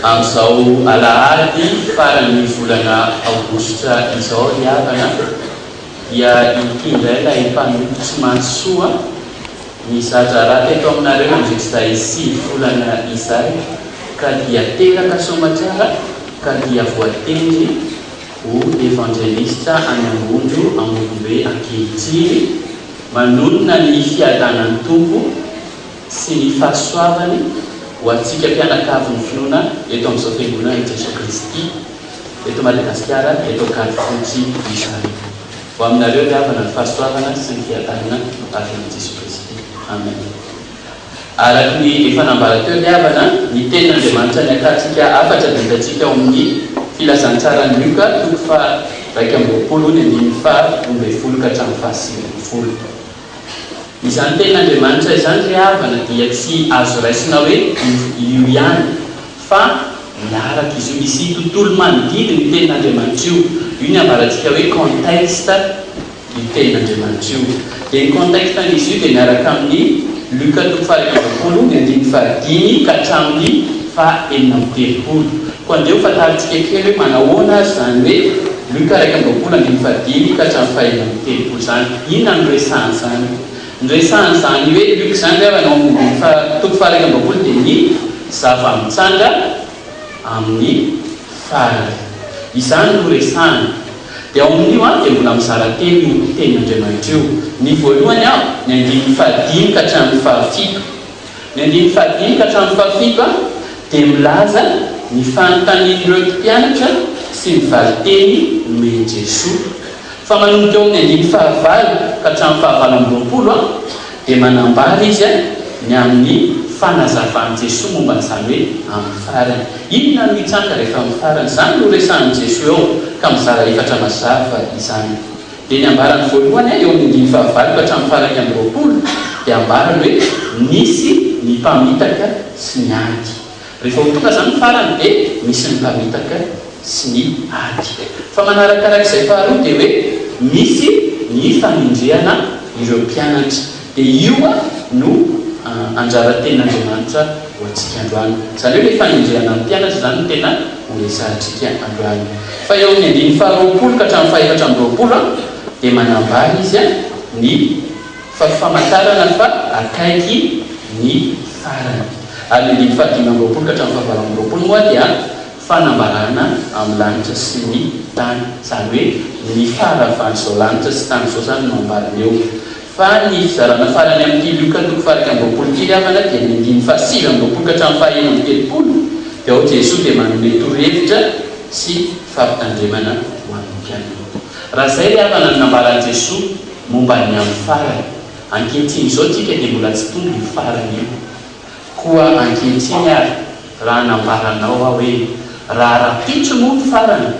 Amin'izao alahady faran'ny volana aogositra izao ry havana dia ity indray ilay mpanompo tsy mahatsy soa nizadrara teto aminareo nandritr'izay sivy volana izay ka dia teraka soamatsara ka dia voatendry ho evanjelistra any Ambondro Ambonimbe ankehitriny manonona ny fiadanan'ny Tompo sy ny fahasoavany ho antsika mpianakavy ny finoana eto amin'izao fiangonana i Jesoa Kristy eto Madagasikara eto Ankadifotsy izany. Ho aminareo ry havana ny fahasoavana sy ny fiadanana avy amin'i Jesoa Kristy. Amen. Araka ny efa nambara teo ry havana, ny tenin'Andriamanitra niakantsika hafatra dia hitantsika ao amin'ny Filazantsaran'i Lioka toko faha iraika amby roapolo ny andininy faha roa ambin'ny folo ka hatramin'ny faha sivy ambin'ny folo. Izany tenin'Andriamanitra izany ry havana dia tsy azo raisina hoe io ihany fa miaraka izy io, misy tontolo manodidy ny tenin'Andriamanitra io, io ny ambarantsika hoe contexte io tenin'Andriamanitra io, dia ny contexte an'izy io dia miaraka amin'ny Luka toko faha iraika amby roapolo ny andininy faha dimy ka hatramin'ny faha enina amby telopolo. Koa andeha ho fantarintsika kely hoe manahoana ary izany hoe Luka iraika amby roapolo andininy fahadimy ka hatramin'ny fahefatra amby telopolo izany. Inona no resahany izany? Ny resahany izany hoe Luka izany ve avy any ao amin'ny toko faha iraika amby roapolo dia ny zava-mitranga amin'ny farany. Izany no resahany. Dia ao amin'io an dia mbola mizara telo io tenin'Andriamanitra io. Ny voalohany an, ny andininy fahadimy ka hatramin'ny fahafito. Ny andininy fahadimy ka hatramin'ny fahafito dia milaza ny fanontanian'ireo mpianatra sy ny valin-teny nomen'i Jesoa. Fa manomboka eo amin'ny andininy fahavalo ka hatramin'ny fahavalo amby roapolo dia manambara izy ny amin'ny fanazavan'i Jesoa momba an'izany hoe amin'ny farany. Inona no hitranga rehefa amin'ny farany? Izany no resahin'i Jesoa eo ka mizara efatra mazava izany. dia ny ambarany voalohany eo amin'ny andininy fahavalo ka hatramin'ny faha iraika amby roapolo dia ambarany hoe nisy ny mpamitaka sy ny ady. Rehefa ho tonga izany ny farany dia misy ny mpamitaka sy ny ady. Fa manarakarak'izay faharoa dia hoe misy ny fanendrehana ireo mpianatra. Dia io no anjara-tenin'Andriamanitra ho antsika androany. Izany hoe ilay fanenjehana ny mpianatra izany no tena ho resahantsika androany. Fa eo amin'ny andininy faharoapolo ka hatramin'ny fahefatra amby roapolo dia manambara izy ny famantarana fa akaiky ny farany. Ary ny andininy fahadimy amby roapolo ka hatramin'ny fahavalo amby roapolo moa dia fanambarana amin'ny lanitra sy ny tany. Izany hoe ny faharavan'izao lanitra sy tany izao izany no ambarany eo. Fa ny fizarana farany amin'ity lioka toko fahairaika amby roapolo ity ry havana dia ny andininy fahasivy amby roapolo ka hatramin'ny fahaenina amby telopolo, dia ao Jesoa dia manome torohevitra sy fampitandremana ho an'ny mpianany. Raha izay ry havana no nambaran'i Jesoa momba ny amin'ny farany, ankehitriny izao tsika dia mbola tsy tonga io farany io. Koa ankehitriny ary raha nambaranao aho hoe raha rahampitso moa ny farany,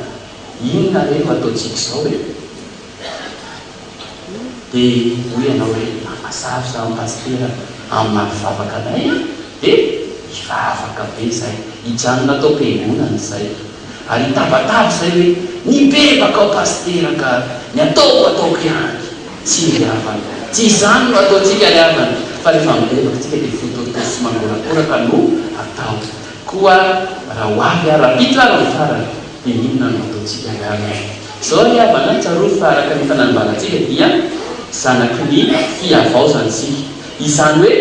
inona re no ataontsika izao e? Dia hoy ianao hoe, Afa sarotra an Pasitera amin'ny maha mpivavaka anay e! Dia hivavaka be izay, hijanona ato am-piangonana izay, ary hitabataba izay hoe, Mibebaka aho Pasitera ka ny ataoko ataoko ihany, tsy ny havany. Tsy izany no ataontsika ry havana, fa rehefa mibebaka isika dia fototoa sy mangorakoraka no atao. Koa raha ho avy ara-pitra ary ny farany, dia inona no ataontsika ry havana? Izao ry havana, tsarovy fa araka ny fananimbànantsika dia zanaky ny fihavaozana isika. Izany hoe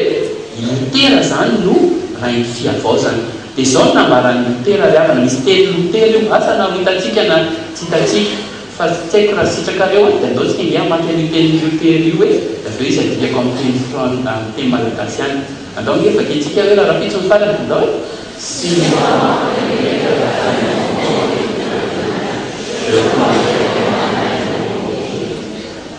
i Lotera izany no rain'ny fihavaozana. Dia izao no nambaran'i Lotera ry havana, misy teny Lotera io, asa na ho hitantsika na tsy hitantsika, fa tsy haiko raha sitrakareo an, dia andaontsika ange hamaky an'io tenin'i Lotera io e, dia avy eo izy adikako amin'ny teny fran, amin'ny teny malagasy ihany. Andao ange vakiantsika hoe rahampitso ny farany andao e!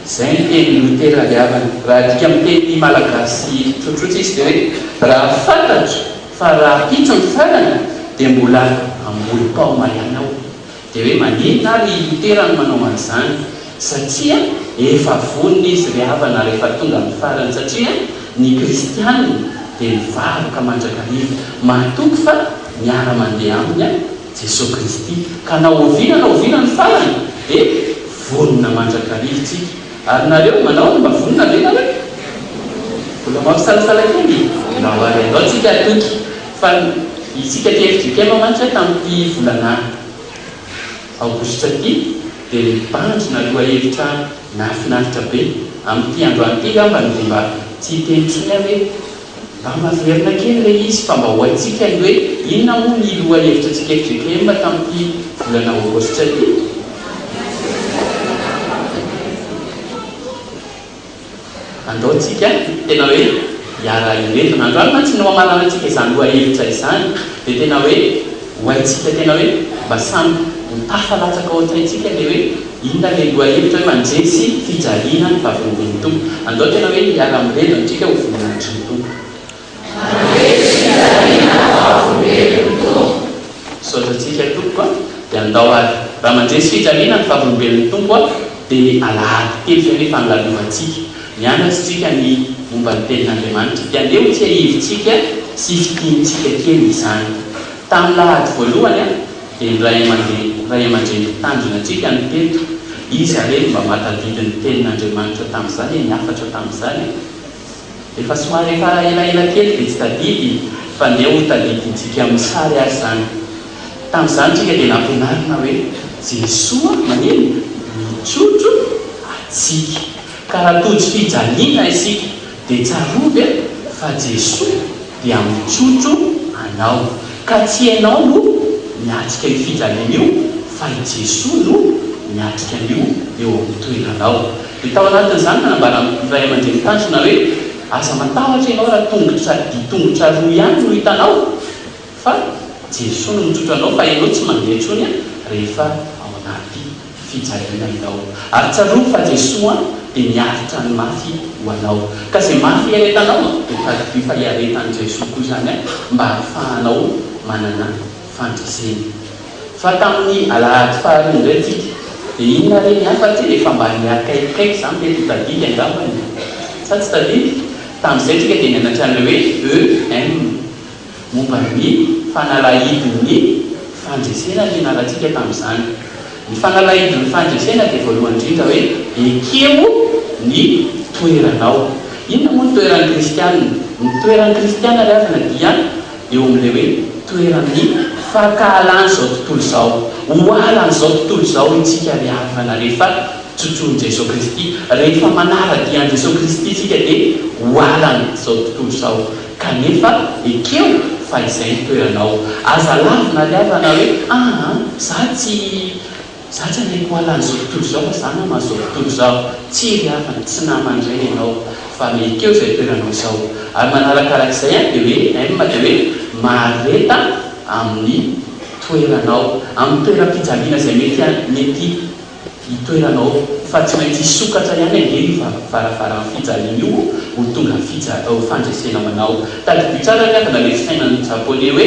Izay ny tenin'i Lotera Alihavana. Raha adika amin'ny teny malagasy tsotsotra izy dia hoe raha fantatro fa rahampitso ny farany dia mbola ambolim-pao maiana aho. Dia hoe maneta ary i Lotera no manao an'izany, satria efa vonona izy ry havana ary efa tonga amin'ny farany, satria ny kristiana dia mivavaka mandrakariva, matoky fa miara-mandeha aminy Jesoa Kristy, ka na oviana na oviana ny farany dia vonona mandrakariva isika, ary nareo manao ny mba vonona ve nareo? Mbola mampisalasala kely e! Mba ho avy andao tsika hatoky. Fa isika aty FJKM mantsy a tamin'ity volana aogositra ity dia nibandry naloa hevitra nahafinaritra be. Amin'ity androany ity angambany dia mba tsy hiteny intsony aho hoe mba maverina kely ilay izy fa mba ho haintsika ny hoe inona moa ny loha hevitra antsika FJKM tamin'ity volana aogositra ity. Andao tsika tena hoe hiara hireto na androany mantsy no hamarana tsika izany loha hevitra izany dia tena hoe ho haintsika tena hoe mba samy ho tafa latsaka ao an-tsaintsika ilay hoe inona ilay loha hevitra hoe mandresy fijaliana ny vavolombelon'ny Tompo. Andao tena hoe hiara mireto antsika ho voninahitry ny Tompo. Mandresy fitariana vavolombelon'ny Tompo. Misaotra antsika tompoko a! Dia andao ary raha mandresy fitariana ny vavolombelon'ny Tompo a! Dia ny alahady telo izay ny fangalovantsika. Mianatra isika ny momba ny tenin'Andriamanitra. Dia andeha ho tsiahivintsika sy fintinintsika kely izany. Tamin'ny lahady voalohany a! Dia ny ray aman-dreny ray aman-dreny mpitandrina antsika no teto. Iza re no mba mahatadidy ny tenin'Andriamanitra tamin'izany e? Ny hafatra tamin'izany e? izy. Efa somary efa elaela kely dia tsy tadidy fa neo ho tadidintsika amin'ny sary ary izany. Tamin'izany isika dia nampianarina hoe Jesoa manino? Mitrotro antsika. Ka raha tojo fijaliana isika dia tsarovy fa Jesoa dia mitrotro anao, ka tsy ianao no miatrika io fijaliana io fa i Jesoa no miatrika an'io eo amin'ny toeranao. Dia tao anatin'izany nanambara ny ray aman-dreny tanjona hoe, aza matahotra ianao raha tongotra dia tongotra roa ihany no hitanao fa Jesoa no mitrotro anao fa ianao tsy mandeha intsony rehefa ao anaty. fijaliana ianao. Ary tsarovy fa Jesoa dia niaritra ny mafy ho anao. Ka izay mafy iaretanao dia tadidio fa iaretan'i Jesoa koa izany mba hahafahanao manana fandresena. Fa tamin'ny alahady faharoa indray tsika dia inona re ny hafa tsia efa mba niakaikikaiky izany mety ho tadidy angambany e? Sa tsy tadidy? Tamin'izay tsika dia nianatra an'ilay hoe EM. Momba ny fanalahidin'ny fandresena no nianarantsika tamin'izany. Ny fanalahidin'ny fandresena dia voalohany indrindra hoe ekeo ny toeranao. Inona moa ny toeran'ny kristiana? Ny toeran'ny kristiana ry havana dia eo amin'ilay hoe toeran'ny fankahalan'izao tontolo izao. Ohalan'izao tontolo izao isika ry havana rehefa tsotsohin'i Jesoa Kristy. Rehefa manara-dia an'i Jesoa Kristy isika dia ohalan'izao tontolo izao. Kanefa ekeo fa izay ny toeranao. Aza lavina ry havana hoe, aa, za tsy, za tsy hanaiky ho ala an'izao tontolo izao fa za nama an'izao tontolo izao. Tsia ry havana, tsy nama indray ianao fa ekeo izay toeranao izao. Ary manarakaraka izay an, dia hoe, M dia hoe, mahareta amin'ny toeranao, amin'ny toeram-pijaliana izay mety, mety. Ny toeranao fa tsy maintsy hisokatra ihany ange io varavaran'ny fijaliana io ho tonga fija fandresena manao. Tadidio tsara ny avana ilay fisainan'ny Japoney hoe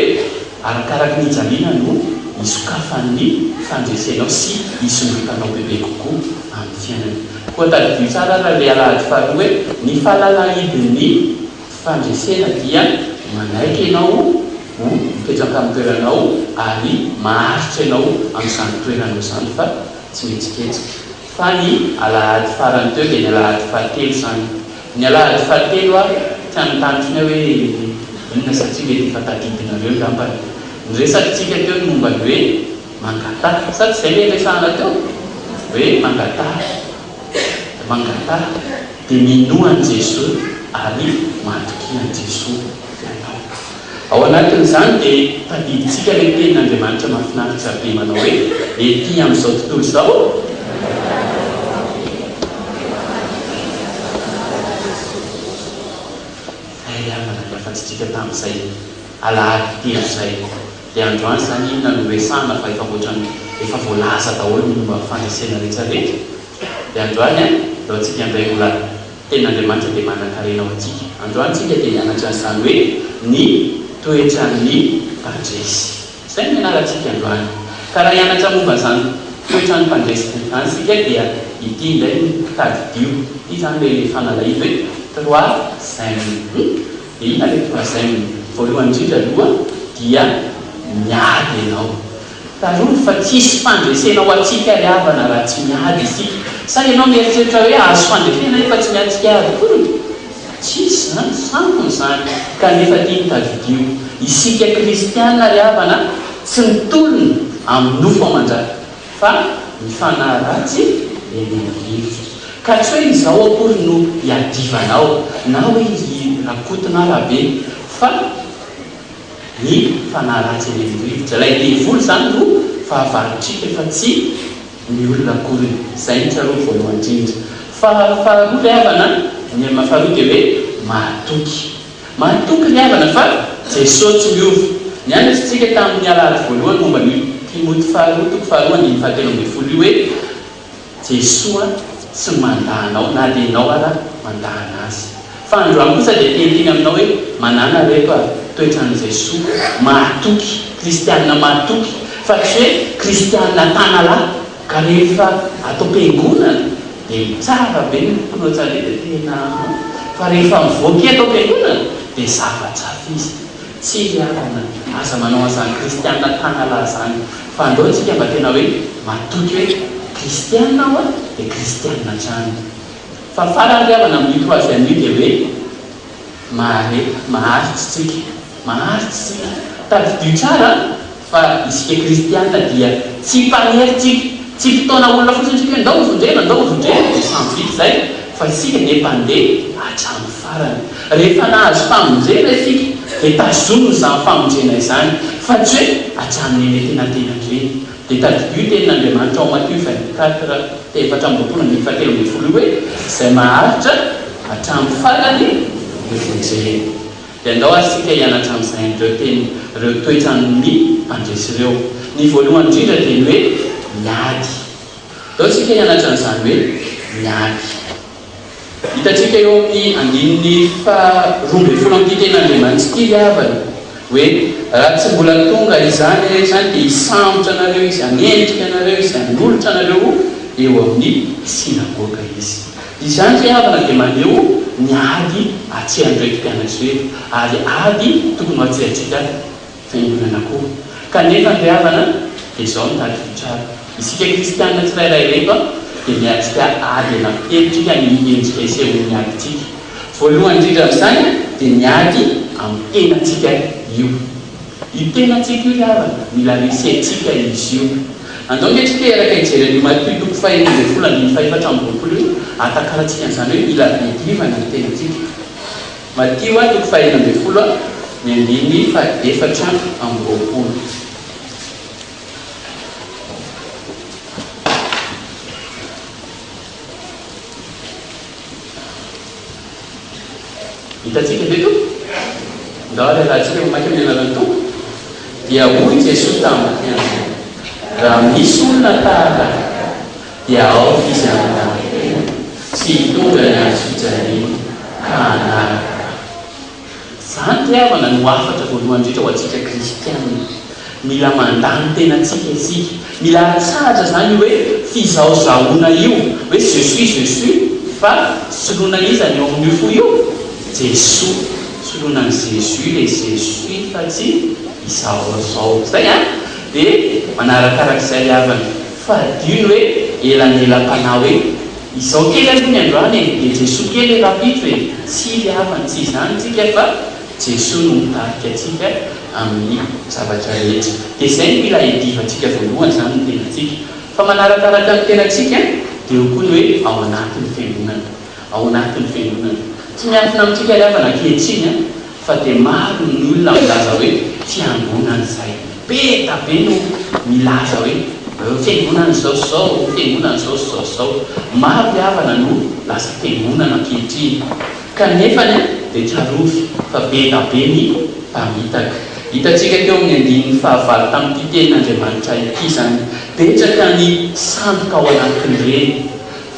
arakaraky ny hijaliana no hisokafan'ny fandresenao sy hisondrotanao bebe kokoa amin'ny fiainana. Koa tadidio tsara ary ilay alahady faharoa hoe ny fahalalahidin'ny. Fandresena dia manaiky ianao ho mipetraka amin'ny toeranao ary maharitra ianao amin'izany toeranao izany fa tsy mihetsiketsika. Fa ny alahady farany teo dia ny alahady fahatelo izany. Ny alahady fahatelo aho tsy hanontany intsony aho hoe inona satria mety efa tadidinareo angambany. Ny resakitsika teo ny momba ny hoe mangataha. Sa tsy izay ilay niresahana teo? Hoe mangataha. mangataha dia minoa an'i Jesoa ary matokia an'i Jesoa ianao. Ao anatin'izany dia tadidintsika ilay tenin'Andriamanitra mahafinaritra be manao hoe, Ety amin'izao tontolo izao, Hay aho nanaly hafatsy antsika tamin'izay alahady telo izay. Dia androany izany inona no resahana fa efa ohatran'ny efa voalaza daholo ny momba ny fandresena rehetra rehetra. Dia androany an, ndao tsika handray mbola Tenin'Andriamanitra dia manan-karena ho antsika. Androany tsika dia hianatra an'izany hoe ny toetran'ny mpandresy. Izay no ianarantsika androany. Ka raha hianatra momba an'izany toetran'ny mpandresy izany isika dia ity indray no tadidio. Ity izany ilay fanalahidy hoe trois Zen. Hum? Inona ilay tonga saina? Voalohany indrindra aloha dia miady ianao. Tsarovy fa tsy hisy fandresena ho antsika ry havana raha tsy miady isika. Sa ianao mieritreritra hoe hahazo fandresena nefa tsy miady tsy hiady akory? Tsy hisy izany, sampona izany. Kanefa ity no tadidio, isika kristiana ry havana tsy mitolona amin'ny nofo aman-draha. Fa ny fanahy ratsy dia mila rivotra. Ka tsy hoe izao akory no iadivanao, na hoe i Rakoto na Rabe, fa ny fanahy ratsy emen'ny rivotra. Ilay devoly izany no fahavalotr'ika fa tsy ny olona akoriny. Izay no tsarovy voalohany indrindra. Fa faharoa ry havana, ny amin'ny faharoa dia hoe mahatoky. Mahatoky ny havana fa Jeso tsy miova. Nianatr'tsika tamin'ny alahady voalohany momba ny Timoty faharoa toko faharoa andininy fahatelo ambin'ny folo io hoe Jesoa tsy mandà anao na dia ianao ara mandàna Azy. Fa androany kosa dia tenitiny aminao hoe manàna ry reto a toetran'i Jeso mahatoky, kristiana mahatoky fa tsy hoe kristiana tanalahy. Ka rehefa ato am-piangonana dia tsara be ny foko no tsaroina ety Henanà, fa rehefa mivoaka eto am-piangonana dia zava tsato izy. Tsia ry havana, aza manao an'izany kristiana tanalahy izany, fa andao isika mba tena hoe matoky hoe kristiana aho a, dia kristiana hatrany. Fa farany ry havana, minute ho avy anio dia hoe. Mahareta, maharitsy tsika, maharitsy tsika. Tadidio tsara fa isika kristiana dia tsy mpanery tsika, tsy mpitaona olona fotsiny tsika hoe ndao ho vondrena, ndao ho vondrena dia samy vita izay, fa isika dia mpandeha hatramin'ny farany. Rehefa nahazo famonjena isika dia tazomina izany famonjena izany, fa tsy hoe hatramin'eny antenantenany ireny. Dia tadidio tenin'Andriamanitra ao Matio vingt quatre te efatra amby roapolo andininy faha telo ambin'ny folo io hoe, Izay maharitra hatramin'ny farany dia vonjeny. Dia andao ary isika hianatra amin'izay an'ireo teny, ireo toetran'ny mpandresy ireo. Ny voalohany indrindra dia ny hoe miady. Andao isika hianatra an'izany hoe miady. Hitantsika eo amin'ny andininy faharoa ambin'ny folo amin'ity Tenin'Andriamanitra ity ry havana hoe, Raha tsy mbola tonga izany re izany, dia hisambotra anareo Izy, hanenjika anareo Izy, hanolotra anareo ho eo amin'ny synagoga Izy. Izany ry havana dia maneho ny ady atsehan'ireo mpianatry ireto, ary ady tokony ho atsehantsika. Fiangonana koa. Kanefa ny havana dia izao no tadiditr'Atra. Isika kristianina tsirairay reto dia miatrika ady anapihevitrika ny endrika isehoan'ny adintsika. Voalohany indrindra amin'izany dia ny ady amin'ny tenantsika io. Io tenantsika io ry havana, mila resentsika izy io. Andao anie tsika hiaraka hijery an'io Matio toko fahenina ambin'ny folo andininy faha efatra amby roapolo io, hatakarantsika an'izany hoe mila hiadivana ny tenantsika. Matio a, toko fahahina ambin'ny folo a, ny andininy fahaefatra amby roapolo. Hitantsika ve to? Ndao ary alatsika mamaky amin'ny alalan'ny Tompo. Dia hoy Jesoa tamiko, Raha misy olona tahaka ahy, Dia aoka izy hanambak'ampela, tsy hitondra ny hazo fijaliany, ka hanaraka ahy. Izany ry havana no hafatra voalohany indrindra ho antsika kristiana. Mila mandany tenantsika isika. Mila atsahatra izany io hoe fizahozahoana io, hoe je suis, je suis, fa soloina iza ny eo amin'io fo io? Jesoa. Soloina an'i Jésus ilay je suis fa tsy izaho izao. Izay an! Dia manarakarak'izay ry havana. Fa adino hoe elanelam-panahy hoe izao kely aloha ny androany e, dia Jesoa kely rapitro e, tsia ry havana tsy izany tsika fa Jesoa no mitarika antsika amin'ny zavatra rehetra. Dia izay no mila iadivantsika voalohany izany ny tenantsika. Fa manarakaraka ny tenantsika dia eo koa ny hoe ao anatin'ny fiangonana. Ao anatin'ny fiangonana. Tsy miankina amintsika ry havana ankehitriny an. Fa dia maro ny olona milaza hoe fiangonana izay be da be no milaza hoe fiangonana izao sy izao, fiangonana izao sy izao sy izao. Maro ry havana no lasa fiangonana ankehitriny. Kanefa dia tsarovy fa be da be ny mpamitaka. Hitantsika teo amin'ny andininy fahavalo tamin'ity tenin'Andriamanitra ity izany. Betsaka ny sandoka ao anatin'ireny,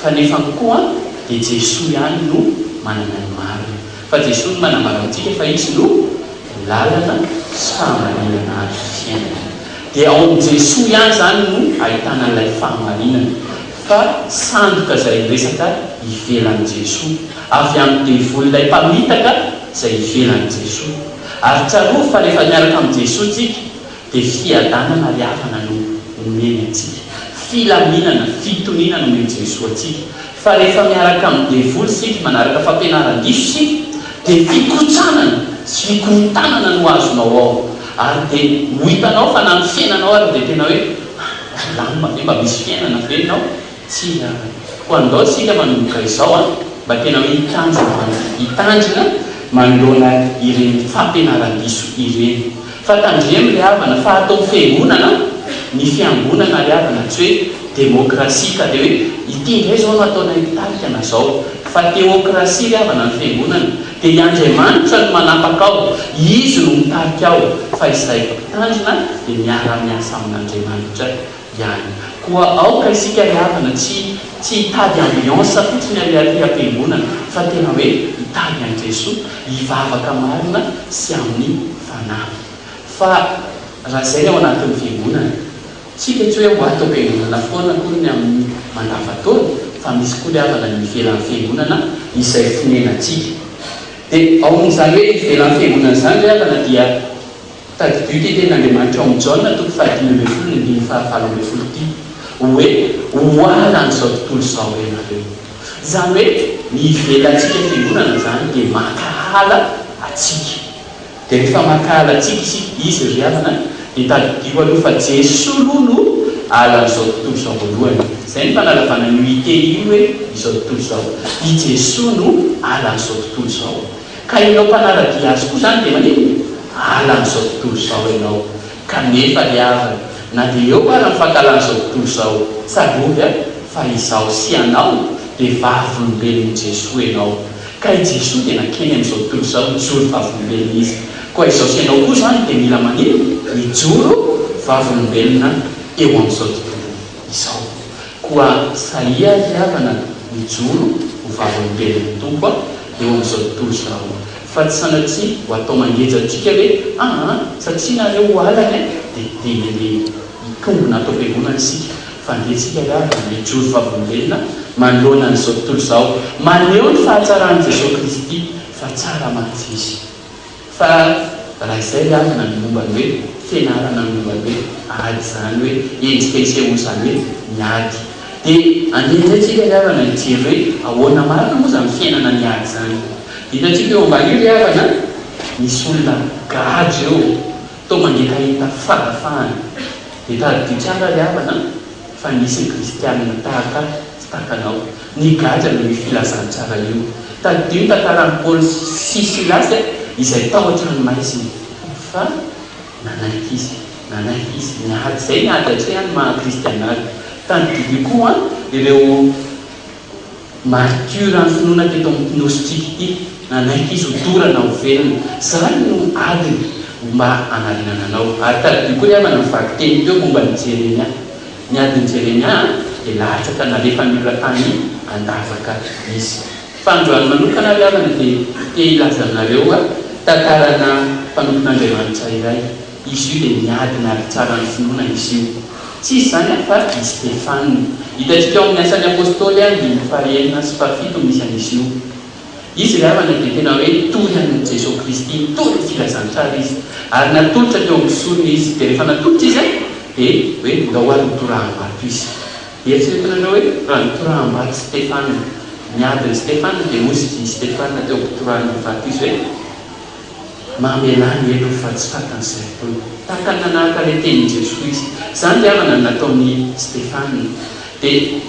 fa nefany koa dia Jesoa ihany no manana ny marina. Fa Jesoa no manambara amintsika fa Izy no lalana sy fahamarinana ary fiainana. Dia ao amin'i Jesoa ihany izany no ahitana an'ilay fahamarinana. Fa sandoka izay miresaka ivelan'i Jesoa. Avy amin'ny devoly ilay mpamitaka izay ivelan'i Jesoa. Ary tsarovy fa rehefa miaraka amin'i Jesoa tsika, Dia fiadanana ary havana no omeny antsika. Filaminana, fitoniana no omen'i Jesoa antsika. Fa rehefa miaraka amin'ny devoly isika, manaraka fampianaran-diso isika, dia fikotsanana sy fikorontanana no azonao ao. Ary dia ho hitanao fa na ny fiainanao ary dia tena hoe, ah, milamina ve? Mba misy fiainana ve ny ao? Tsy hiala. Koa andao tsika manomboka izao an, mba tena hoe hitanjy ambany hitandrina manoloana ireny fampianaran-diso ireny. Fa tandremo ry havana fa ato amin'ny fiangonana ny fiangonana ry havana tsy hoe demokrasia ka dia hoe ity indray izao no ataonay mpitarika na izao. Fa teokrasia ry havana ny fiangonana. Dia i Andriamanitra no manapaka ao. Izy no mitarika ao. Fa izahay mpitandrina dia miara-miasa amin'Andriamanitra. ihany. Koa aoka isika ry havana tsy tsy hitady ambiance fotsiny ary aty am-piangonana fa tena hoe hitady an'i Jesoa, hivavaka marina sy amin'ny fanahy. Fa raha izay ny ao anatin'ny fiangonana, tsika tsy hoe ho ato am-piangonana foana akory ny amin'ny mandavan-taona fa misy koa ry havana ny ivelan'ny fiangonana izay fonenantsika. Dia ao amin'izany hoe ivelan'ny fiangonana izany ry havana dia. Tadidio ity tenin'Andriamanitra ao amin'ny Jaona toko fahadimy ambin'ny folo ny andininy fahavalo ambin'ny folo ity hoe, Oala an'izao tontolo izao ianareo. Izany hoe ny ivelantsika fiangonana izany dia mankahala antsika. Dia rehefa mankahala antsika izy, izy ry havana an, dia tadidio aloha fa Jesoa aloha no ala an'izao tontolo izao voalohany. Izay no fanalavana an'io ity hoe izao tontolo izao. I Jesoa no ala an'izao tontolo izao. Ka ianao mpanaradia azy koa izany dia maninona? Ala an'izao tontolo izao ianao. Kanefa ry havana, na dia eo ara ny fankahalan'izao tontolo izao, tsarovy an, fa izaho sy ianao dia vavolombelon'i Jesoa ianao. Ka i Jesoa dia nankeny amin'izao tontolo izao nijoro vavolombelona Izy. Koa izaho sy ianao koa izany dia mila maninona? Mijoro vavolombelona eo amin'izao tontolo izao. Koa sahia ry havana mijoro ho vavolombelon'ny Tompo aho eo amin'izao tontolo izao, fa tsy sanatria ho atao mangeja antsika hoe, aa satria nareo ho alana e, dia dia mandeha hitombina ato am-piangonana isika, fa andeha tsika ry havana hijoro vavolombelona manoloana an'izao tontolo izao, maneho ny fahatsaran'i Jesoa Kristy fa tsara mantsy Izy. Fa raha izay ny avana ny momba ny hoe fianarana ny momba ny hoe ady izany hoe endrika hisehoa izany hoe ny ady. Dia andeha indray tsika ry havana hijery hoe ahoana marina moa izany fiainana ny ady izany. Dia hitantsika eo amban'io ry havana misy olona gadra eo toa mangetaheta fahafahana. Dia tadidio tsara ry havana. Fa nisy kristianina tahaka ahy tsy tahaka anao nigadra noho io filazantsara io. Tadidio ny tantaran'i Paoly sy Silasy izay tao an-tranomaizina fa nanaiky izy, nanaiky izy ny ady izay ny ady atrehan'ny maha-kristiana azy. Tadidio koa ireo. Maritiora ny finoana teto amin'ity Nosy-tsika ity. Nanaiky izy ho dorana ho velona. Izany no adiny ho mba hanarenana anao. Ary tadidio koa ry havana ny vakiteny teo momba an'i Jeremia. Ny adin'i Jeremia dia lahatra ka nalefan'ny olona tany an-davaka izy. Fa androany manokana ry havana dia te hilaza aminareo tantarana mpanompon'Andriamanitra iray. Izy io dia miadana ary tsara ny finoana izy io. Tsy izy izany afa i Stefana. Hitantsika ao amin'ny Asan'ny Apostoly andininy fahaenina sy fahafito misy an'izy io. Izy ry havana dia tena hoe toy an'i Jesoa Kristy, nitory ny filazantsara izy ary natolotra teo amin'ny sorona izy, dia rehefa natolotra izy dia hoe ndao ary mitoraham-bato izy. Eritreretinareo hoe raha nitoraham-bato Stefana, niady ny Stefana dia hozy i Stefana teo am-pitorahana ny vato izy ve? Mamelà ny elo fa tsy fatan'izay tompoko. Tahaka ny nanaraka ilay tenin'i Jesoa izy. Izany ry havana no nataon'i Stefana. Dia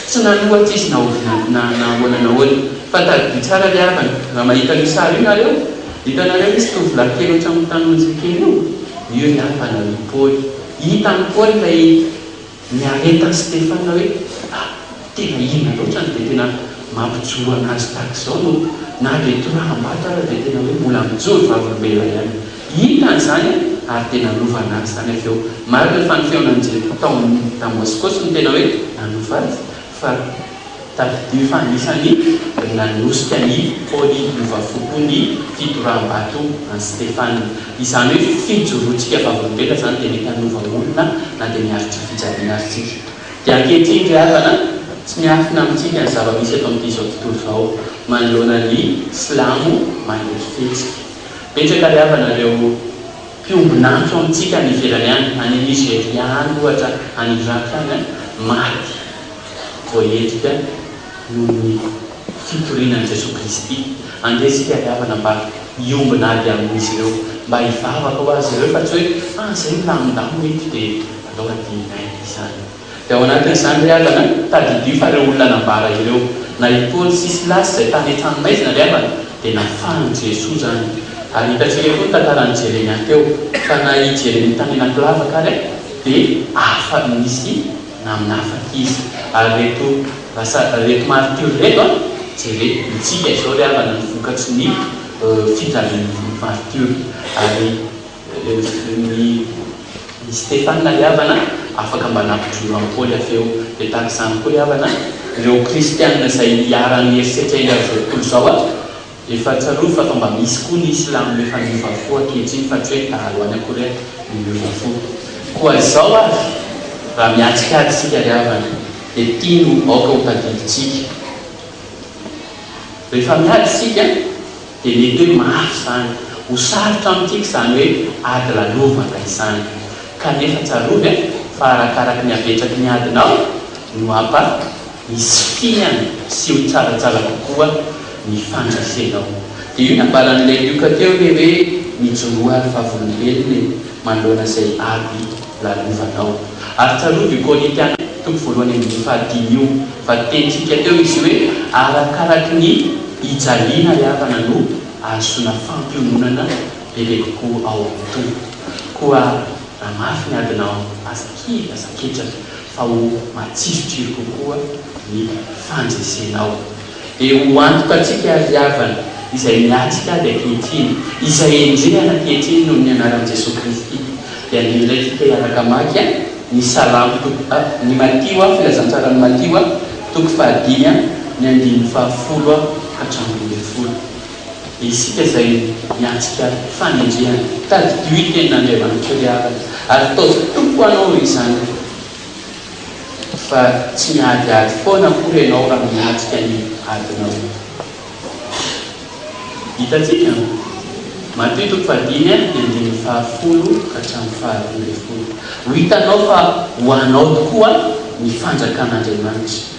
tsy nanohatra izy na oviana na na ahoana na ahoana. Fa tadidio tsara ry havana, raha mahita an'io sary io nareo, hitanareo misy tovolahy kely ohatran'ny tanonja kely io? Io ry havana no i Paoly. Hitan'i Paoly ilay. Niaretan'i Stefan hoe, Ah, tena ina loatra no dia tena mampijoro an'azy tahaka izao no na dia toraham-bato ara dia tena hoe mbola mijoro vavolombelona ihany. Hitany izany ary dia nanova an'azy izany avy eo. Marina fa ny feonan'i Jehovah tao amin'ny Damaskosy no tena hoe nanova azy, fa. Tadidio fa anisan'ny ry nanosika ny Pôly Lova Fo koa ny fidoram-bato an'i Stefana. Izany hoe fijoroantsika vavolombelona izany dia mety hanova olona na dia miaritra fijaliana aza isika. Dia ankehitriny ry havana, tsy miafina amintsika ny zava-misy eto amin'ity izao tontolo izao manoloana ny silamo mandresy fihetsika. Betsaka ry havana ireo mpiombon'antsy eo amintsika any ivelany any, any Nizeria any ohatra, any Iraka any an, maty voaendrika noho ny fitoriana an'i Jesoa Kristy, andeha isika ry havana mba hiombona ady amin'izy ireo, mba hivavaka ho azy ireo fa tsy hoe ah izay milamindamina eto dia aleo hadinonay izany. Dia ao anatin'izany ry havana, tadidio fa ireo olona nambara ireo, na i Paoly sy Silasy izay tany an-tranomaizina ry havana, dia nafahan'i Jesoa izany. Ary hitantsika koa ny tantaran'i Jeremia teo, fa na i Jeremia tany anaty lavaka ary dia afa-nisy. namin'afaka izy. Ary reto lasa reto martyrs reto a, jere mitsika izao ry havana ny vokatry ny fijalian'ny martyrs. Ary ny i Stefana ry havana afaka mba nampijoro an'i Paoly avy eo. Dia tahaka izany koa ry havana ireo kristiana izay iharan'ny herisetra eny amin'ny roapolo izao a. Efa tsarovy fa toa mba misy koa ny silamo miova miova fo ankehitriny fa tsy hoe dahalo any Korea no miova fo. Koa izao avy, raha mihatsikady isika ry havana, dia ity no aoka ho tadidintsika. Rehefa miady isika dia mety hoe mafy izany, ho sarotra amintsika izany hoe ady lalovana izany. Kanefa tsarovy fa arakaraky ny habetraky ny adinao no hapa. hisy fihana sy ho tsaratsara kokoa ny fandresenao. Dia io nambaran'i Lelioka teo ilay hoe mijoroa ry vavolombelona e manoloana izay ady lalovanao. Ary tsarovy io Korintiana toko voalohany andininy fahadimy io fa nitenitsika teo izy io hoe arakaraky ny hijaliana hihavana no ahazoana fampiononana bebe kokoa ao amin'ny Tompo. Koa raha mafy ny adinao aza kivy aza ketraka fa ho matsirotsiro kokoa ny fandresenao. Dia ho antoka antsika ry havana, izay miatrika ady ankehitriny, izay endrehana ankehitriny noho ny anaran'i Jesoa Kristy, dia andeha tsika hiaraka hamaky ny Salamo toko a, ny Matio a, Filazantsaran'i Matio a, toko fahadimy a, ny andininy fahafolo a hatramin'ny folo. dia isika izay miatrika fanenjehana. Tadidio i Tenin'Andriamanitra ry havana, ary taovy tompo anao ry zanako, fa tsy miady ady foana akory ianao raha miatrika ny adinao. Hitantsika, Matiho toko fahadimy a, ny andininy fahafolo ka hatramin'ny faharoa ambin'ny folo. Ho hitanao fa ho anao tokoa ny fanjakan'Andriamanitra.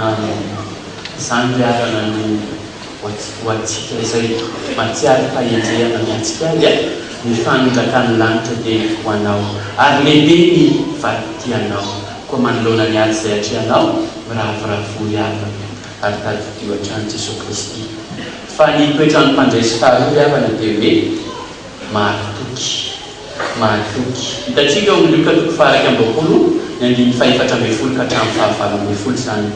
Amen. Izany ry havana no ho antsika izay mahatsiaro fahendrehana miantsika azy a! Ny fanondrakan'ny lanitra dia ho anao ary lehibe ny vadi-tianao koa manoloana ny ady izay atrehanao, miravoravoa ry havana. ary tadidio hatrany Jesoa Kristy fa ny toetran'ny mpandresy faharoa ry havana dia hoe mahatoky. Mahatoky. Hitantsika ao amin'ny Lioka toko faha-iraika amby roapolo ny andininy fahefatra ambin'ny folo ka hatramin'ny fahavalo ambin'ny folo izany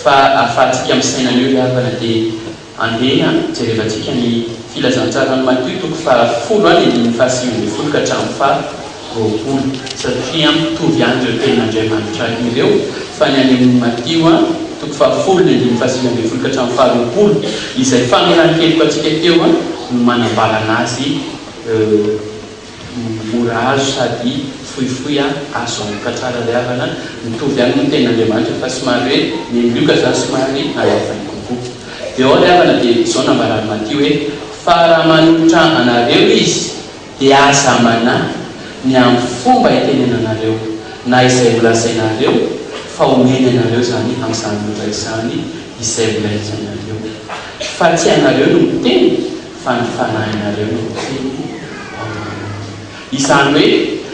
fa ahafahantsika misaina an'io ry havana dia andeha jerevantsika ny filazantsaran'i Matio toko faha folo a ny andininy faha sivy ambin'ny folo ka hatramin'ny faha roapolo, satria mitovy ihany ireo tenin'Andriamanitra ireo, fa ny any amin'ny Matio a, toko fahafolo ny andininy fahasivy ambin'ny folo ka hatramin'ny faharoapolo, izay famelan-keloka antsika teo a, no manambara an'azy euh, mora azo sady fohifohy a, azo antoka tsara ry havana, mitovy ihany moa ny tenin'Andriamanitra fa somary hoe ny an'i Lioka izany somary nalazainy kokoa. Dia ao ry havana dia izao nambaran'i Matio hoe, fa raha manolotra anareo izy, Dia aza manahy ny amin'ny fomba itenenanareo na izay holazainareo fa omeny anareo izany amin'izany loza izany izay holazainareo. Fa tsy ianareo no miteny fa ny fanahinareo no miteny ao aminy. Izany hoe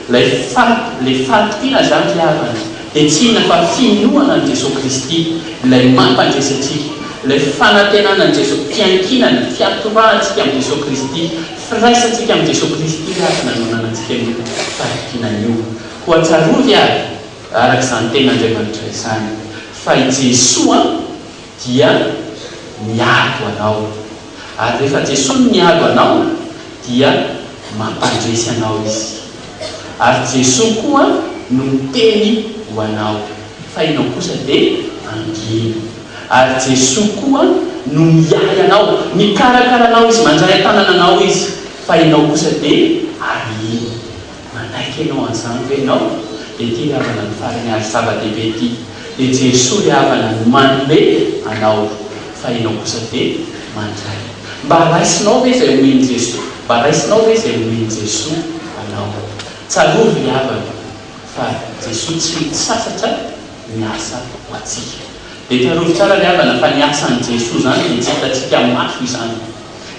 ilay faty, ilay fahatokiana izany ry havana dia tsy inona fa finoana an'i Jesoa Kristy, ilay mampandresy antsika, ilay fanantenana an'i Jesoa, fiankinana, fiatorahantsika amin'i Jesoa Kristy, Firaisantsika amin'i Jesoa Kristy raha tsy nanonanantsika an'io fahitana io. Koa tsarovy àry, araka izany tenin'Andriamanitra izany, fa i Jesoa dia miady ho anao. Ary rehefa Jesoa no miady ho anao, dia mampandresy anao Izy. Ary Jesoa koa no miteny ho anao, fa ianao kosa dia mangina. Ary Jesoa koa no miahy anao, mikarakara anao Izy, mandray an-tanana anao Izy, fa ianao kosa dia arahiny. Manaiky ianao an'izany ve ianao? Dia ity ry havana no farany ary zava-dehibe ity, dia Jesoa ry havana no manome anao, fa ianao kosa dia mandray. Mba raisinao ve izay omen'i Jesoa? Mba raisinao ve izay omen'i Jesoa anao? Tsarovy ry havana fa Jesoa tsy mitsasatra. miasa ho antsika. Dia tsarovy tsara ry havana fa ny asan'i Jesoa izany dia tsy hitantsika maso izany.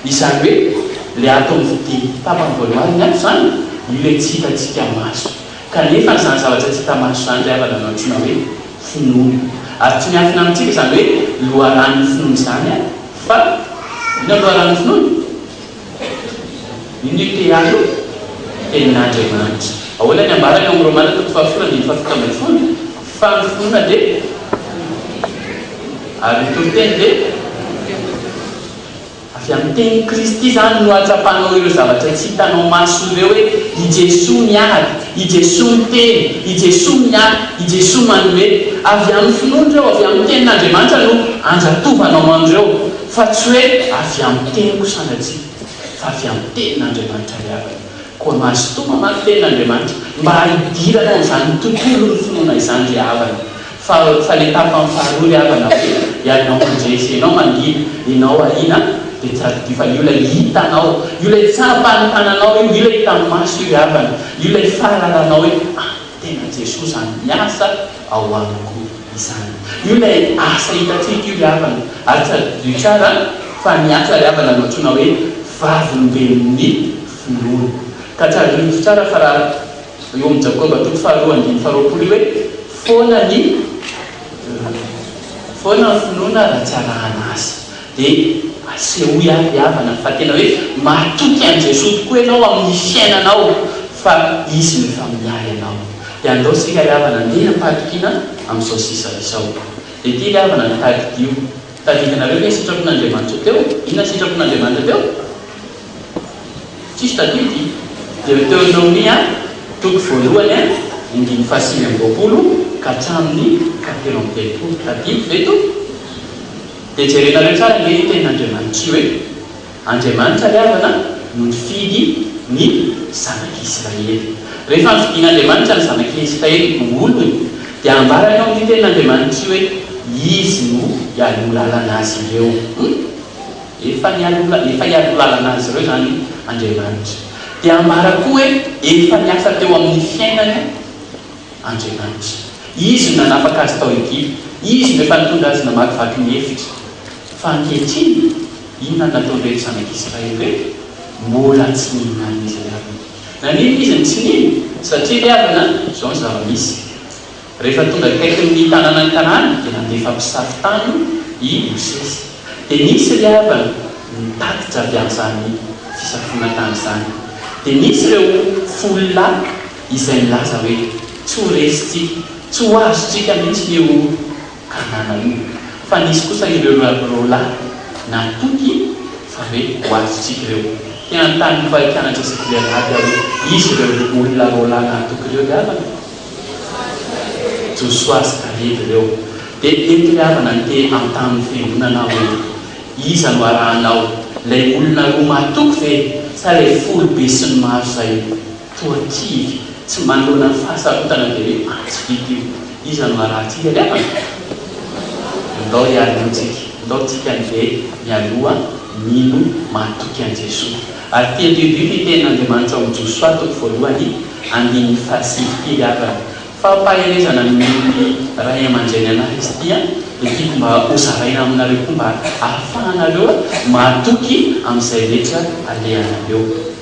Izany hoe ilay ato amin'ny fidiny tapany voalohany ny ato izany, io ilay tsy hitantsika maso. Kanefa izany zavatra tsy hita maso izany ry havana no antsoina hoe finoana. Ary tsy miafina amintsika izany hoe loharanon'ny finoana izany fa inona loharanon'ny finoana? Inona io TEA io? Tenin'Andriamanitra. Ahoana ny ambarany ao amin'ny Romana toko fahafolo andininy fahafito ambin'ny folo? Fa ny finoana dia ary ny toriteny dia avy amin'ny tenin'i Kristy. Izany no hahatsapanao ireo zavatra tsy hitanao maso ireo hoe i Jesoa miady, i Jesoa miteny, i Jesoa miahy, i Jesoa manome. Avy amin'ny finoana ireo, avy amin'ny tenin'Andriamanitra no andratofanao an'ireo. Fa tsy hoe avy amin'ny teniko sanatria, fa avy amin'ny tenin'Andriamanitra ny havana. Koa mahasintomina manko ny tenin'Andriamanitra, mba hidirana amin'izany tontolon'ny finoana izany ry havana. Fa, fa ny tapany faharoa ry havana, hoe ianao mandresy, ianao mangina, ianao ahiana, dia tsy azo adino fa io ilay hitanao, io ilay tsapan'ny tananao, io ilay hitan'ny maso io ry havana, io ilay fahalalanao hoe, ah! tena Jesoa izany miasa ao amiko izany. Io ilay asa hitantsika io ry havana, ary tadidio tsara fa ny asa ry havana no antsoina hoe vavolombelon'ny finoana. Ka tsarovy tsara fa raha eo amin'ny Jakoba toko faharoa andininy faharoapolo io hoe foana ny foana ny finoana raha tsy arahana asa. Dia asehoy ary havana fa tena hoe matoky an'i Jesoa tokoa ianao amin'ny fiainanao fa Izy no efa miahy anao. Dia andao isika ry havana andeha hampatokiana amin'izao sisa izao. Dia ity ry havana no tadidio. Tadidinareo ve ny sitrapon'Andriamanitra teo? Inona ny sitrapon'Andriamanitra teo? Tsisy tadidy. Dia teo Naomia toko voalohany andininy fahasivy amby roapolo ka hatramin'ny fahatelo amby telopolo. Tadidy ve to? Dia jerenareo tsara ve ny tenin'Andriamanitr'io e! Andriamanitra ry havana no nifidy ny zanak'Israely. Rehefa nofidin'Andriamanitra ny zanak'Israely ho olony dia ambarany ao amin'io tenin'Andriamanitra io hoe Izy no hialoha lalana azy ireo. Hum! Efa nialoha, efa hialoha lalana azy ireo izany Andriamanitra. Dia ambara koa hoe efa niasa teo amin'ny fiainany. Andriamanitra. Izy no nanafaka azy tao Egypta. Izy no efa nitondra azy namakivaky ny efitra. Fa ankehitriny, inona no nataon'ireto zanak'Israely ireto? Mbola tsy nihinanana izay havany. Naninona izy no tsy nino? Satria ry havana, izao ny zava-misy. Rehefa tonga akaikin'ny tanànan'i Kanana, dia nandefa mpisafo tany i Mosesy. Dia nisy ry havana nitatitra avy amin'izany fisafoana tany izany. Dia nisy ireo folo lahy. izay nilaza hoe, Tsy ho resintsika, tsy ho azontsika mihitsy ny eo Kanana io. Fa nisy kosa ireo roalahy natoky fa hoe ho azontsika ireo. Te hanontany ny mpampianatra sy governaty aho hoe, Izy ireo olona roalahy natoky ireo ry havana? Josoa sy Kaleby ireo. Dia eto ry havana no te hanontany ny fiangonana aho hoe, Iza no arahanao, ilay olona roa mahatoky ve sa ilay foibe sy ny maro izay? Toa kivy, tsy manoloana ny fahasarotana dia hoe atsy vita io. Iza no harahantsika ny havany? Ndao hialohantsika, ndao tsika andeha mialoha mino mahatoky an'i Jesoa. Ary tia Dieu Dieu ny tenin'Andriamanitra ao amin'ny Josoa toko voalohany andininy fahasivy kely havany. Fampaherezana nomen'ny Ray aman-dReny anah izy ity an, dia tiako mba ho zaraina aminareo koa mba hahafahanareo mahatoky amin'izay rehetra alehanareo.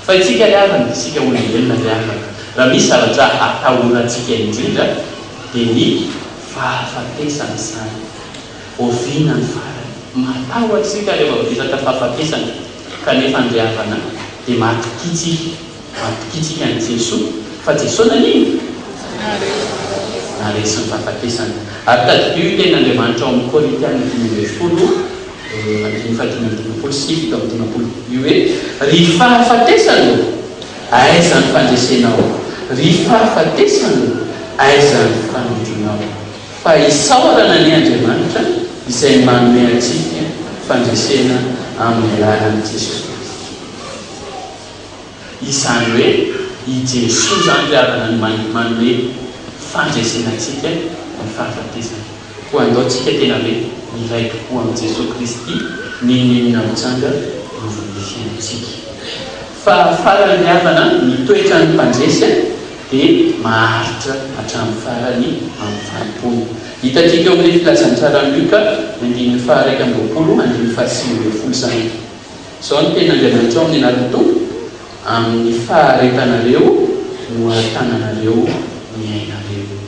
Fa isika ary havana, isika olombelona ary havana, raha misy zavatra atahorantsika indrindra dia ny fahafatesana izany. Oviana ny farany? Matahotra isika rehefa vohizaka fahafatesana, kanefa ny ry havana dia mahatokitsika, mahatokitsika an'i Jesoa, fa Jesoa nanino? Naresy ny fahafatesana. Ary tadidio io tenin'Andriamanitra ao amin'ny Korintiana dimy ambin'ny folo andininy fahadimy amby dimampolo sy fito amby dimampolo, ny hoe, Ry fahafatesana ô, aiza ny fandresenao? Ry fahafatesana ô, aiza ny fanondronao? Fa isaorana anie Andriamanitra izay manome antsika fandresena amin'ny alalan'i Jesosy Kristy. Izany hoe i Jesoa izany ry havana no mahay manome fandresena antsika ny fahafatesana. Koa andao tsika tena hoe miray tokoa amin'i Jesoa Kristy n'inon'inona mitranga iovin'ny fiainantsika. Fa farany ry havana ny toetran'ny mpandresy dia maharitra hatramin'ny farany amin'ny fanompoana. Hitantsika eo amin'ilay filazantsara Luka ny andininy faha iraika amby roapolo andininy faha sivy ambin'ny folo izany. Izao ny tenin'Andriamanitra ao amin'ny anatin'ny Tompo, Amin'ny faharetanareo no ahatananareo ny ainareo.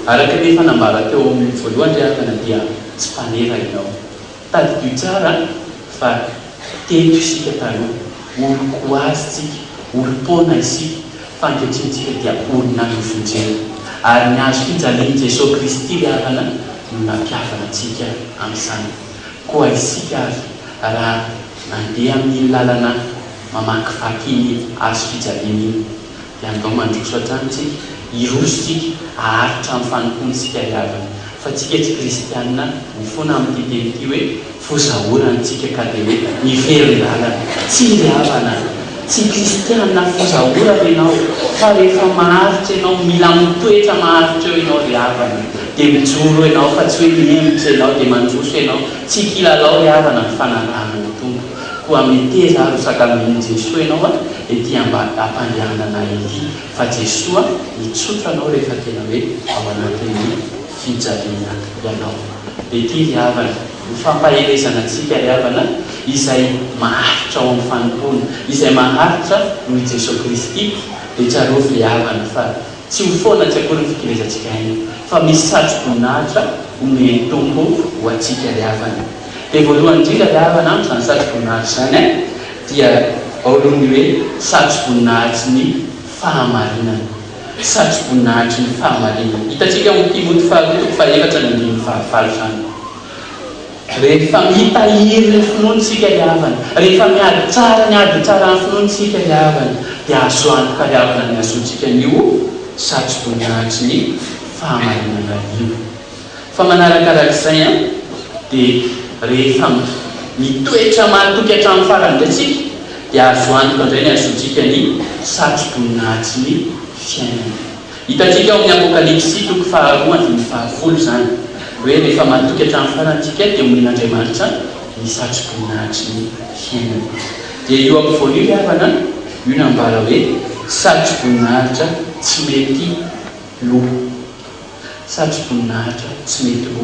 Araka ny efa nambara teo amin'ny voalohany ry havana dia tsy mpanera ianao. Tadidio tsara fa teto isika taloha, olon-koazy tsika, olom-poana isika, fa ankehitriny tsika dia olona nofonjena. Ary ny hazo fijalian'i Jesoa Kristy ry havana no nampihavana antsika amin'izany. Koa isika ary, raha mandeha amin'iny lalana mamakivaky iny hazo fijaliana iny, dia andao mandroso hatrany isika, hiroso isika, haharitra amin'ny fanompoantsika iavana. Fa tsika tsy kristiana mifona amin'ity teny ity hoe, fozaora ny tsika ka dia hoe miverin-dalana. Tsia ry havana, tsy kristiana fozaora ianao, fa rehefa maharitra ianao, mila mitoetra maharitra eo ianao ry havana. Dia mijoro ianao fa tsy hoe mihemotra ianao dia mandroso ianao, tsy kilalao ry havana ny fanarahana ny Tompo, koa meteza ary ho sakamonin'i Jesoa ianao ary ety ambadam-pandehanana ety, fa Jesoa hitsotra anao rehefa tena hoe ao anatin'ny fijaliana ianao. Dia ity ry havana no fampaherezana antsika ry havana, izay maharitra ao amin'ny fanompoana, izay maharitra noho i Jesoa Kristy dia tsarovy ry havana fa, Tsy ho foana tsy akory ny fikelezantsika aina, fa misy satro-boninahitra omen'ny Tompo ho antsika ry havana. Dia voalohany indrindra ry havana amiko izany satro-boninahitra izany an, dia ao aloha ny hoe satro-boninahitry ny fahamarinana, satro-boninahitry ny fahamarinana. Hitantsika ao amin'ny Timoty faharoa toko fahaefatra ny andininy fahavalo izany. Rehefa mitahiry ny finoantsika ry havana, rehefa miady tsara ny ady tsara ny finoantsika ry havana, dia azo antoka ry havana ny hahazoantsika an'io satroboninahitry ny fahamarinana io. Fa manarakarak'izay an, dia rehefa mitoetra mahatoky hatramin'ny farany indray tsika, dia azo antoka indray ny hahazoantsika ny satroboninahitry ny fiainana. Hitantsika ao amin'ny Apokalypsy toko faharoa andininy fahafolo izany hoe rehefa matoky hatramin'ny farany isika dia homen'Andriamanitra ny satroboninahitry ny fiainana. Dia io ampovoany io ry havana an, io nambara hoe satroboninahitra tsy mety lo. Satroboninahitra tsy mety lo.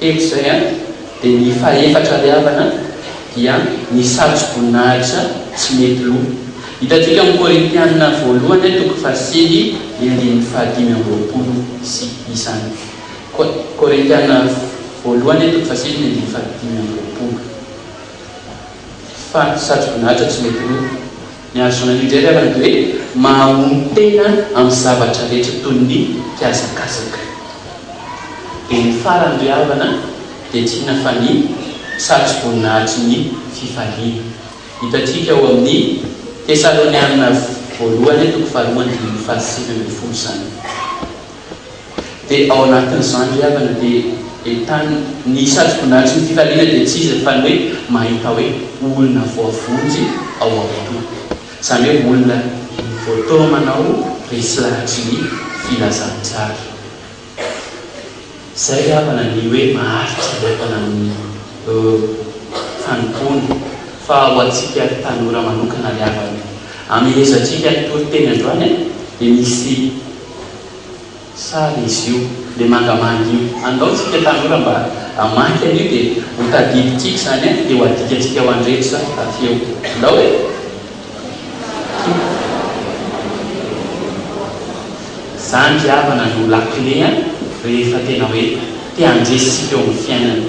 Teny izay an, dia ny fahefatra ry havana dia ny satro-boninahitra tsy mety lo. Hitantsika amin'ny Korintiana voalohany toko fahasivy ny andininy fahadimy amby roapolo sy izany. Ko, Korintiana voalohany toko fahasivy ny andininy fahadimy amby roapolo. Fa satro-boninahitra tsy mety lo. Ny hahazoana indray ilay lazaina hoe mahamono tena amin'ny zavatra rehetra toy ny mpiazakazaka. Dia ny farany ry havana dia tsy inona fa ny satroboninahitry ny fifaliana. Hitantsika ao amin'ny Tesalonianina Voalohany toko faharoa andininy fahasivy ambin'ny folo izany. Dia ao anatin'izany ry havana dia entanina. Ny satroboninahitry ny fifaliana dia tsy iza fa ny hoe mahita hoe olona voavonjy ao am-pony. Izany hoe olona voataona manao resy lahatry ny filazantsara. Izay ry havana ny hoe maharitra ry havana amin'ny fanompoana. Fa ho antsika ry tanora manokana ry havana, amin'ny hezantsika nitory teny androany dia misy. Sary izy io, le mangamanga io. Andao tsika tanora mba hamaky an'io dia ho tadidintsika izany an, dia ho adikantsika ho an-dretra avy eo. Ndao e! Izany ry havana no lakile an, rehefa tena hoe te handresy isika eo amin'ny fiainana.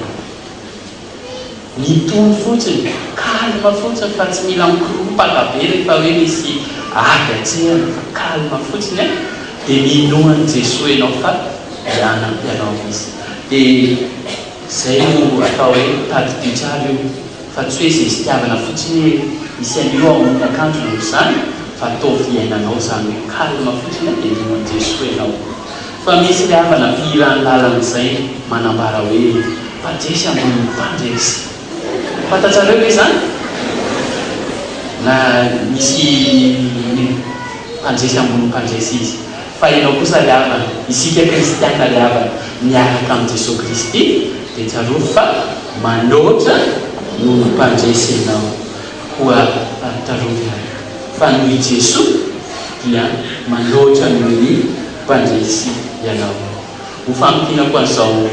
Mitory fotsiny, calme fotsiny fa tsy mila mikoropaka be rehefa hoe misy ady an-tsehana fa calme fotsiny e! dia minoan'i Jesoa ianao fa hianampy anao Izy. Dia izay no atao hoe mitady mpitrary io fa tsy hoe izay zitiavana fotsiny hoe misy an'io ao amin'ny akanjony ohatr'izany fa ataovy iainanao izany hoe calme fotsiny e! dia minoan'i Jesoa ianao. Fa misy ny havana fihiran'ny lalana izay manambara hoe mpajesy ambony ny mpandresy. Fantatrareo ve izany? Na misy ny mpandresy ambony ny mpandresy izy. Fa ianao kosa ry havana, isika kristiana ry havana, miaraka amin'i Jesoa Kristy, dia tsarovy fa manoatra no mpandresy anao. Koa tsarovy ary fa noho i Jesoa dia manoatra noho ny. Mpandresy ianao. Ho famintinako an'izao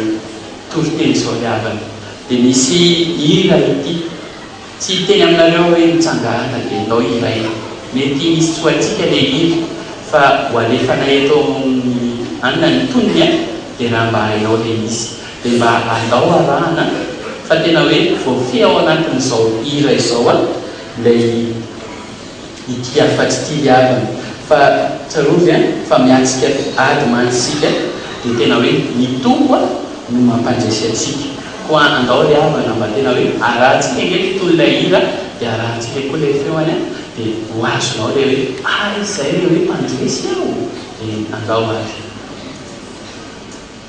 toriteny izao ny havany dia misy hira ity, tsy hiteny aminareo hoe mitsangàna dia enao hiray, mety misy tsy ho haintsika ilay hira fa ho alefanay eto amin'ny anona ny tonony a, dia raha mba hainao ilay izy dia mba andao arahana fa tena hoe voafehy ao anatin'izao hira izao a ilay. Ity afatsy ity ry havana fa tsarovy a fa miatsika ady mantsy isika dia tena hoe ny Tompo a no mampandresy atsika koa andao ry havana mba tena hoe arahantsika ange ny tony ilay hira dia arahantsika koa ilay feony a dia ho azonao ilay hoe ary izay ilay hoe mpandresy aho dia andao ary.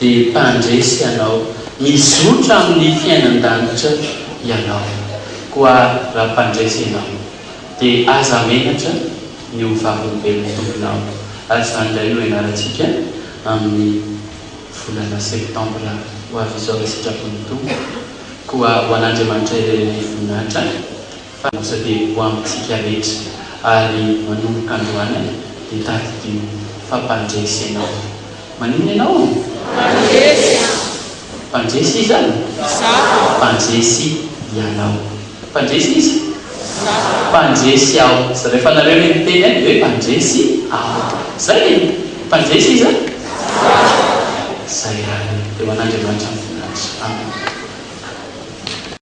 Dia mpandresy ianao, mizotra amin'ny fiainan-danitra ianao. Koa raha mpandresy ianao, dia aza menatra ny ho vavolombelon'ny Tomponao, ary izany indray no ianarantsika amin'ny volana septambra ho avy izao, raha sitrapon'ny Tompo. Koa ho an'Andriamanitra irery ny voninahitra. Fanajabeko ho amintsika rehetra ary manomboka androany dia tadidio fa mpandresy ianao. Maninona ianao? Mpandresy aho. Mpandresy iza? Izaho. Mpandresy ianao. Mpandresy iza? Izaho. Mpandresy aho. Izay rehefa nareo ilay miteny ahy dia hoe mpandresy aho. Izay e! Mpandresy iza? Izaho. Izay ary. Dia ho an'Andriamanitra ny voninahitra. Amena.